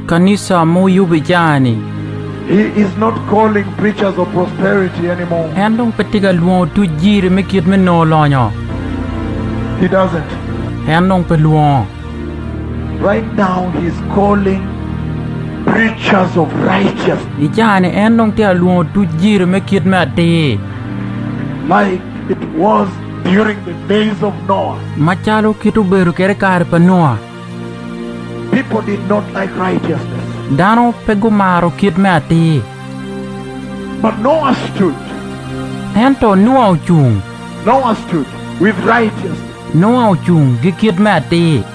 Kanisa ma wuyubo ijang-ni, en dong pe tye ka lwongo otuc jiri me kit me nongo lonyo. En dong pe lwongo. Ijang-ni, en dong tye ka lwongo otuc jiri me kit me atir. Macalo kit obedo kwede i kare pa Nua, dano pe gumaro kit me atir. Ento Nua ocung ki kit me atir.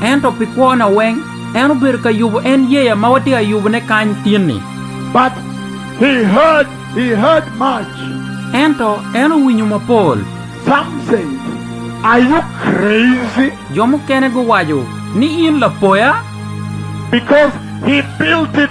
Ento pi kwona weng, en obedo ka yubo en yeya ma watye ka yubone kany tin-ni. But he heard, he heard much. Ento en owinyo mapol. Some said, Are you crazy? Jo mukene guwaco ni, In lapoya? Because he built it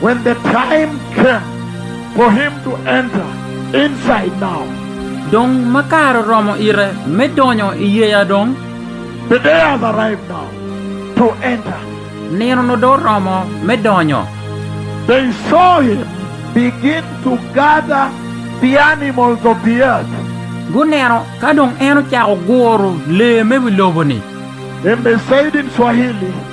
When the time came for him to enter inside now. Dong ma kare oromo ite me donyo i yeya dong. The day has arrived now to enter. Nino nongo dong oromo me donyo. They saw him begin to gather the animals of the earth. Guneno ka dong en ocako guro lee me wi lobo-ni. And they said in Swahili.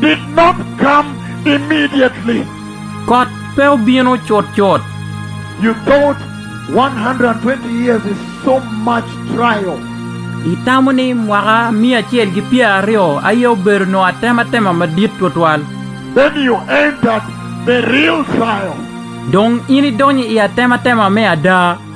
did not come immediately. Kot pe obino cutcut. You thought one hundred and twenty years is so much trial. Itamo ni mwaka miya acel ki pyer aryo aye obedo nongo atematema madit twatwal. Then you entered the real trial. Dong in idonyo i atematema me ada.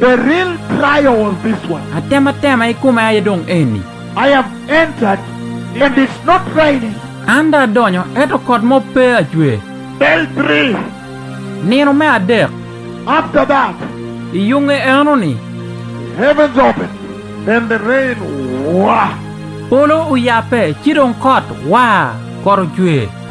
The real trial was this one. Atematema i kome aye dong eni. I have entered, and it's not raining. An dong adonyo, ento kot mo pe acwer. Day three. Nino me adek. After that. I yunge enoni. The heavens opened, and the rain waa. Polo oyabbe, ci dong kot waa, kot ocwer.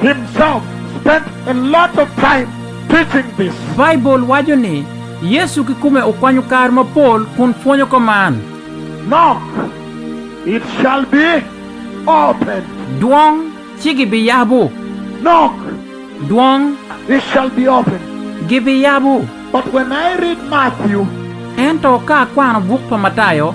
himself spent a lot of time teaching this. Baibul waco ni, Yecu kikome okwanyo kare mapol kun pwonyo ka man. Knock, it shall be opened. Dwong, ci gibiyabo. Knock, Dwong. it shall be opened. Gibiyabo. But when I read Matthew. Ento ka akwano buk pa Matayo.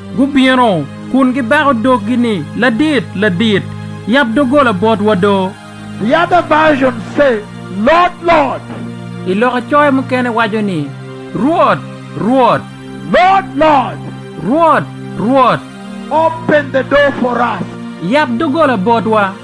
Gubino, kun gibako doggi ni, Ladit, Ladit, yab doggola botwa do! The other version say, Lord, Lord! I loka coyo mukene waco ni, Rwot, Rwot! Lord, Lord! Rwot, Rwot! Open the door for us! Yab doggola botwa!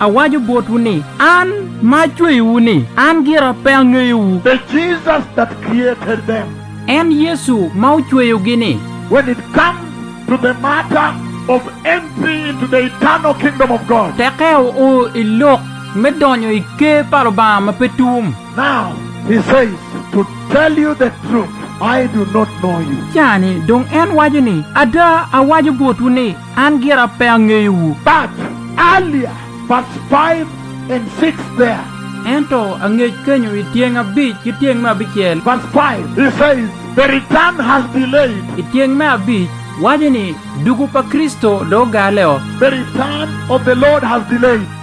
Awaco botwu ni, An ma acweyowu ni, an gira pe angeyowu. The Jesus that created them. En Yecu ma ocweyogi ni. When it comes to the matter of entry into the eternal kingdom of God. Teke oo i lok me donyo i ker pa Lubanga ma pe tum. Now, he says, to tell you the truth, I do not know you. Cani dong en waco ni, Ada, awaco botwu ni, An gira pe angeyowu. But earlier verse five and six there. Ento angec kenyo i tyeng abic ki tyeng me abicel. Verse five, he says, The return has delayed. I tyeng me abic, waco ni, Dugo pa Kricito dong ogale o. The return of the Lord has delayed.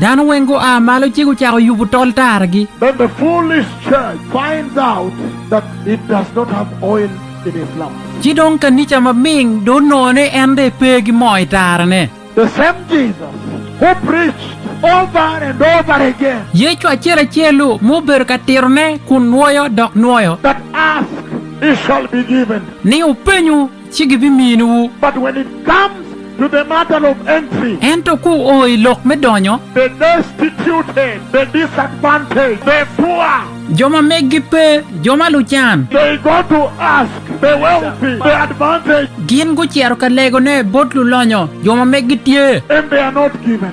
Dano weng gua malo ci gucako yubo tol taragi. Then the foolish church finds out that it does not have oil in its lamp. Ci dong kanica maming do onongo ni en dong pe gi moo i tarane. The same Jesus who preached over and over again. Yecu acel acel-lu ma obedo ka titone kun nwoyo dok nwoyo. That ask, it shall be given. Ni, Wupenyu, ci gibiminiwu. But when it comes to the matter of entry. Ento ka wuo i lok me donyo. The destituted, the disadvantaged, the poor. Jo ma meggi pe, jo ma lucan. They go to ask the wealthy, the advantaged. Gin gucito ka legone bot lulonyo, jo ma meggi tye. And they are not given.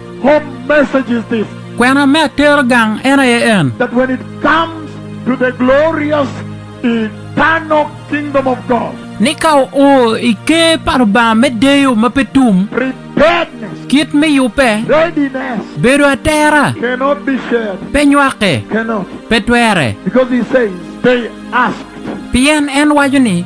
Home message is this. Kwena me atero gang en aye en. That when it comes to the glorious eternal kingdom of God. Ni ka oo i ker pa Lubanga me deyo ma pe tum. Preparedness. Kit me yubbe. Readiness. Bedo atera. Cannot be shared. Pe nywake. Cannot. Pe twere. Because he says, they asked. Pien en waco ni.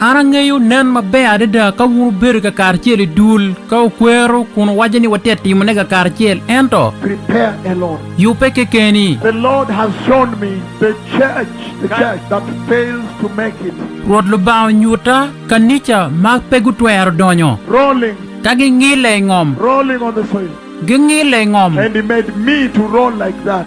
An angeyo nen maber adada ka wun wubedo kakaracel i dul, ka wukwero kun wuwaco ni watye ka timone kakaracel, ento. Prepare a lot. Yubbe kekeni. The Lord has shown me the church, the church that fails to make it. Rwot Lubanga onyuta kanica ma pe gutwero donyo. Rolling. Ka gingille i ngom. Rolling on the soil. Gingille i ngom. And He made me to roll like that.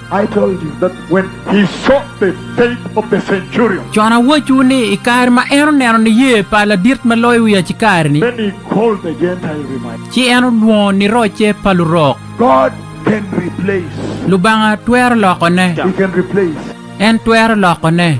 Con awacciwu ni, i kare ma en oneno niye pa ladit ma loyo wi acikari-ni, ci en olwongo nirocce pa lurok. Lubanga twero lokone. En twero lokone.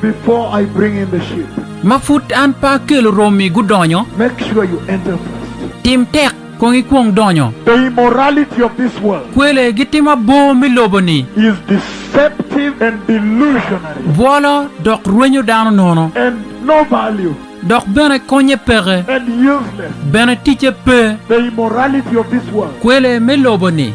before I bring in the sheep. Ma pud an pe akelo romi gudonyo. Make sure you enter first. Tim tek kong ikwong donyo. The immorality of this world. Kwele gitimo abor me lobo-ni. Is deceptive and delusionary. Bwolo dok rwenyo dano nono. And no value. Dok bene konye peke. And useless. Bene ticce pe. The immorality of this world. Kwele me lobo-ni.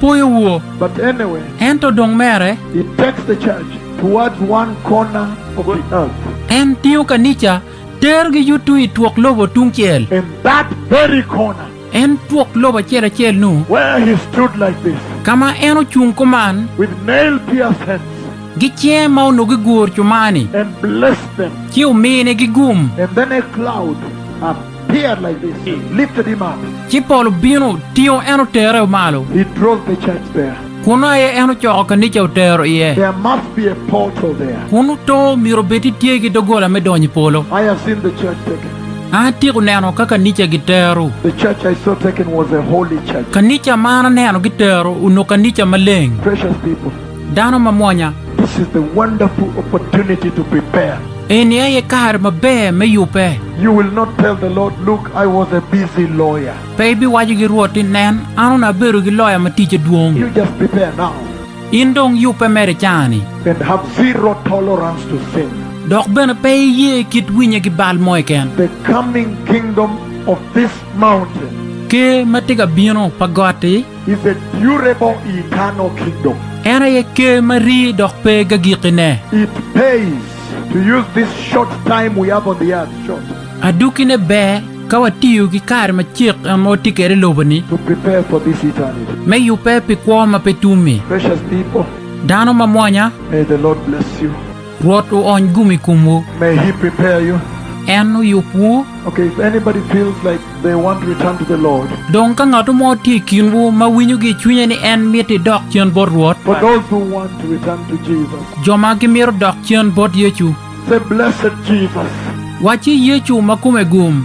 Pwoyo wu. But anyway, Ento dong mere. it takes the church towards one corner of the earth. En tingo kanica, terogi yutu i twok lobo tungcel. In that very corner. En twok lobo acel acel-nu. Where he stood like this. Ka ma en ocung kuman. With nail-pierced hands. Gi cinge ma onongo giguro cumani. And blessed them. Ci ominigi gum. And then a cloud. Ci pol obino, otingo en otere malo, kunnu aye en ocoko kanica otero iye. Kunnu to myero obed ni tye ki doggola me donyo i polo. An atyeko neno ka kanica gitero. Kanica ma an aneno gitero onongo kanica maleng. Dano mamwonya. This is the wonderful opportunity to prepare. Eni aye kare maber me yubbe. You will not tell the Lord, Look, I was a busy lawyer. Pe ibiwaco gi Rwot ni, Nen, an onongo abedo gi loya ma ticce dwong. You just prepare now. In dong yubbe mere i caa-ni. And have zero tolerance to sin. Dok bene pe iye kit winye ki bal mo keken. The coming kingdom of this mountain. Ker ma tye ka bino pa got-ti. is a durable eternal kingdom. En aye ker ma ri dok pe gagikkine. It pays to use this short time we have on the earth, short. Adukkine ber ka watiyo ki kare macek ma watye kwede i lobo-ni. To prepare for this eternity. Me yubbe pi kwo ma pe tum-mi. Precious people. Dano mamwonya. May the Lord bless you. Rwot oony gum i komwu. En oyubwu. Dong ka ngat mo tye i kinwu ma winyo ki i cwinye ni en mito idok cen bot Rwot, jo ma gimito dok cen bot Yecu, wacci, 'Yecu ma kome gum.